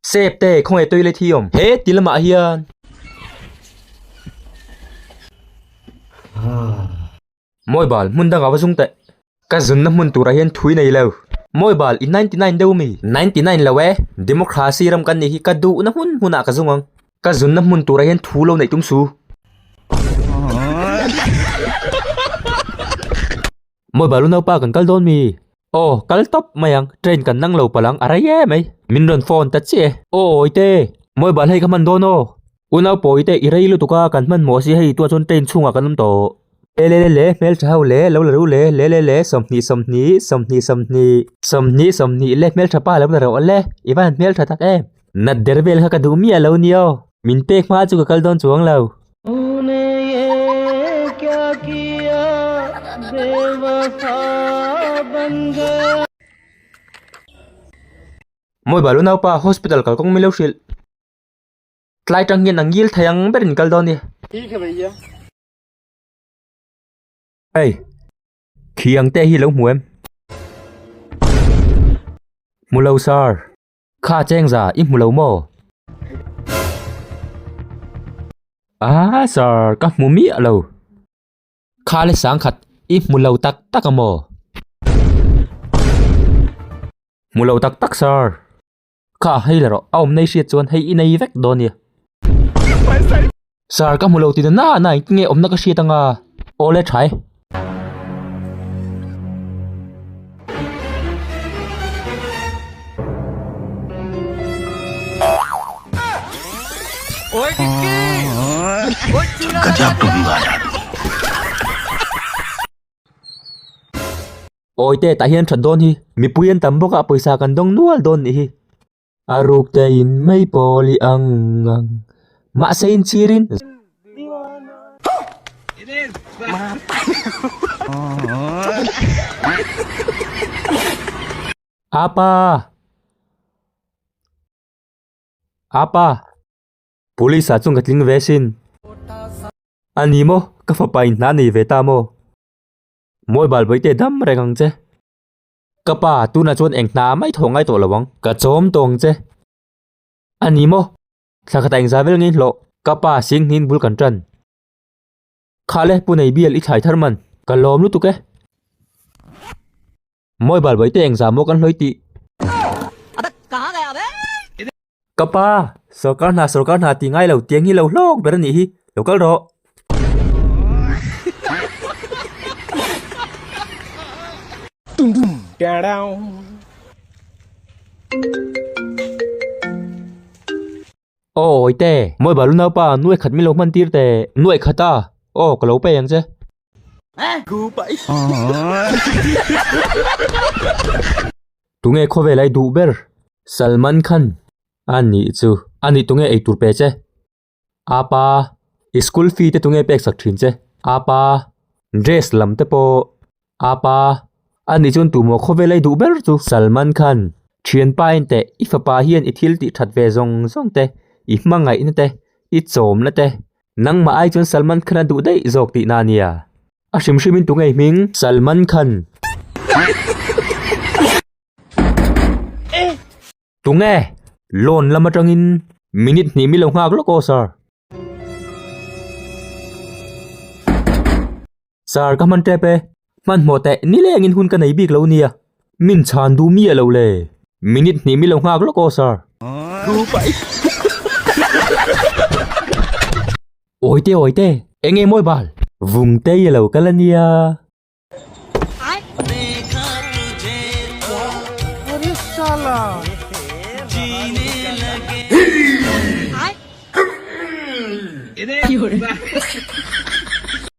Septe khawnge toilet hi awm? He ti lamah hian. Mawibal hmun dangah va zung teh. Ka zunna hmun turah hian thui nei lo. Mawibal i ninety nine deuh mi? Ninety nine lo e. Democracy ram kan nih hi ka duhna hmun hmunah ka zung ang. Ka zunna hmun turah hian thu lo neih tum su. Mawi balu naupa kan kal dawn mi? Aw kal tawp mai ang, train kan nang lo palang a rei em mai, min rawn phone ta chiah e. Aw awite, mawi bal hei ka hman dawn aw. U nau pawi te i rei lutuk a, kan hman maw si hei, tu ah chuan train chhung ah kan awm tawh. Le le le le, hmeltha ho le, lo la ru le, le le le, sawmhnih sawmhnih, sawmhnih sawmhnih. Sawmhnih sawmhnih le, hmeltha pa lo la rawh le, i va han hmeltha tak em. Natder vel kha ka duh miah lo ni aw. Min pek hma chu ka kal dawn chuang lo. Mawi bal u nau pa hospital kal kawng milo hrilh tlai tang hian a ngil thei ang ber in kal dawn i hei khi ang te hi lo hmu em hmu lo sir. Kha a cheng za i hmu lo maw? Aa sir, ka hmu miah lo. Kha le sang khat i hmu lo tak tak a maw? Hmu lo tak tak sir. Kha hei la rawh, a awm nei hriat chuan hei i nei vek dawn nia. Sir, ka hmu lo ti nana a nine nge awmna ka hriat anga. Aw le thai. Ka diak tum ngai a. Awite tah hian that dawn hi. Mipui an tam bawk a pawisa kan dawng nual dawn nih hi. A ruk te in mai pawl i ang ang mahse in chhir in Apa Apa Police ah chuan ka tling ve sin A ni maw ka fapa in hna nei ve ta maw Mobile vawi te dam reng ang che. Ka pa, tunah chuan eng hna a mai thaw ngai tawh lo ang. Ka chawm tawng che. A ni maw? Thla khata engzah vel ngei hlawh. Ka pa sianghniin bul kan tan. Khah le, pu nei bial i thlai thar man. Ka lawm lutuk e. Mawibal bawihte engzah maw kan hlawi tih? Ka pa, sorkar hna, sorkar hna ti ngai lo, tiang hi lo hlawk ber a nih hi, lo kal rawh. Dum dum, da da. Aw Awite, mawi balu naupa, nu ekhat min lo hman tir teh. Nu ekhat a? Aw, ka lo pei ang che. Gu pai. Tunge khawvel ai duh ber? Salman Khan, A nih chu. A nih tunge eitur pe che? A pa, I school fee te tunge peksak thin che? A pa, Dress lam te pawh? A pa, A nih chuan tumaw khawvel ai duh ber chu? Salman Khan, Thianpa inteh i fapa hian i thil tihthat ve zawng zawng te, i hmangaihna te, i chawmna te, Nangmah ai chuan Salman Khan a duh daih zawk tih na nia? A hrim hrim in tu ngei hming Salman Khan. Tunge? Lawn lam atang in. Minute hnih mi lo nghak lawk aw sir. Sir ka hman tep e, hmanhmawh teh nilengin hun ka nei bik lo nia, min chhan duh mi alo le, minute hnih mi lo nghak lawk aw sir. Awi te awi te, eng nge mawi bal? Vung tei alo kal ania.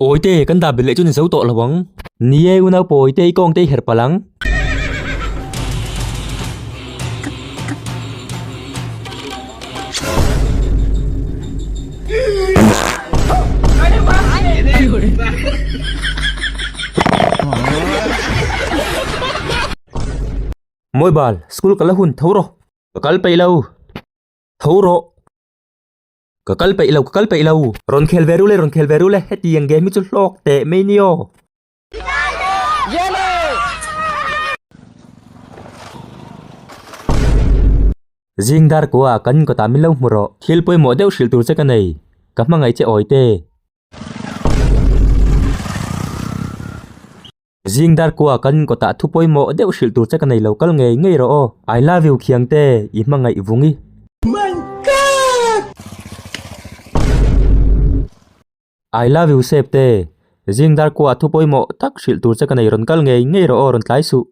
Awite kan dah bet leh chu ni zo tawh lo ang. Ni e, u naupawi te i kawng te i her palh ang. Mawi bal, school ka la hun tho rawh. Ka kal peih lo, tho rawh. Ka kal peih lo, ka kal peih lo. Rawn khel ve ru le, rawn khel ve ru le, heti eng game hi chu hlawk teh mai ni aw. Zing dar kua ah kan inkawtah min lo hmu rawh. Thil pawimawh deuh hrilh tur che ka nei. Ka hmangaih che awite. Zing dar kua kan kawtah thu pawimawh deuh hrilh tur che ka nei lo kal ngei ngei rawh aw. I love you Khiang te i hmangaih vung i. Mein kak! I love you Sep te. Zing dar kua thu pawimawh tak hrilh tur che ka nei rawn kal ngei ngei rawh aw rawn tlai suh.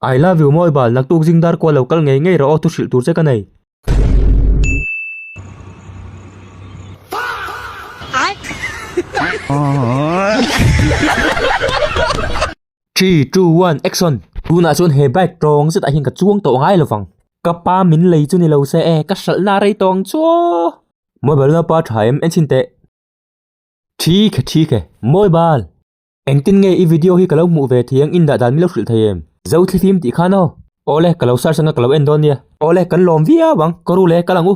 I love you mawi bal naktuk zing dar kual lo kal ngei ngei rawh aw thu hrilh tur che ka nei. Fuck! Three, two, one, action! Tunah chuan he bike tawng zetah hian ka chuang tawh ngai lo vang. Ka pa min lei chu ni lo se e, ka hralhna a rei tawng chuaw! Mawibal nau pa tha em? Enchin teh. Thik e, thik e. Mawibal! Engtin nge i video hi ka lo hmuh ve thiang, in dah dan min lo hrilh thei em? Zo thli fim tih khan aw. Awle, ka lo search anga ka lo en dawn nia. Awle, kan lawm viau ang. Ka ru le, ka lang u.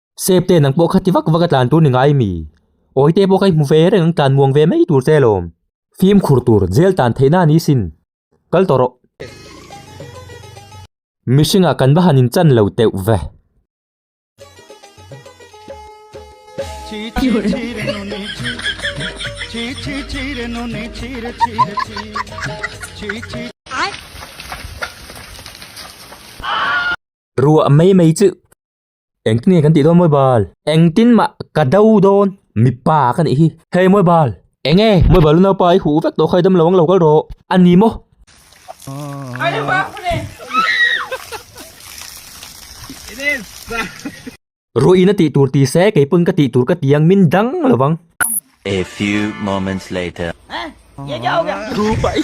Sep te nang pawh kha ti vak vak a tlan tur ni ngai mi? Awi te pawh kha i hmu ve reng ang tlan muang ve mai tur che lawm. Fim khur tur jail tan theihna ni sin. Kal tawh rawh. Mihringah kan va han in chan lo teuh ve. Ruah mai mai chu. Engtin nge kan tih dawn Mawibal? Engtin mah ka do dawn mipa ka nih hi. Hei Mawibal! Enge? Mawibal u naupa i huh vek tawh kha i dam lo ang lo kal rawh. A ni maw? Rawh ina tih tur ti se, kei pawn ka tih tur ka ti ang, min dang lo vang. A few moments later. Tupa i.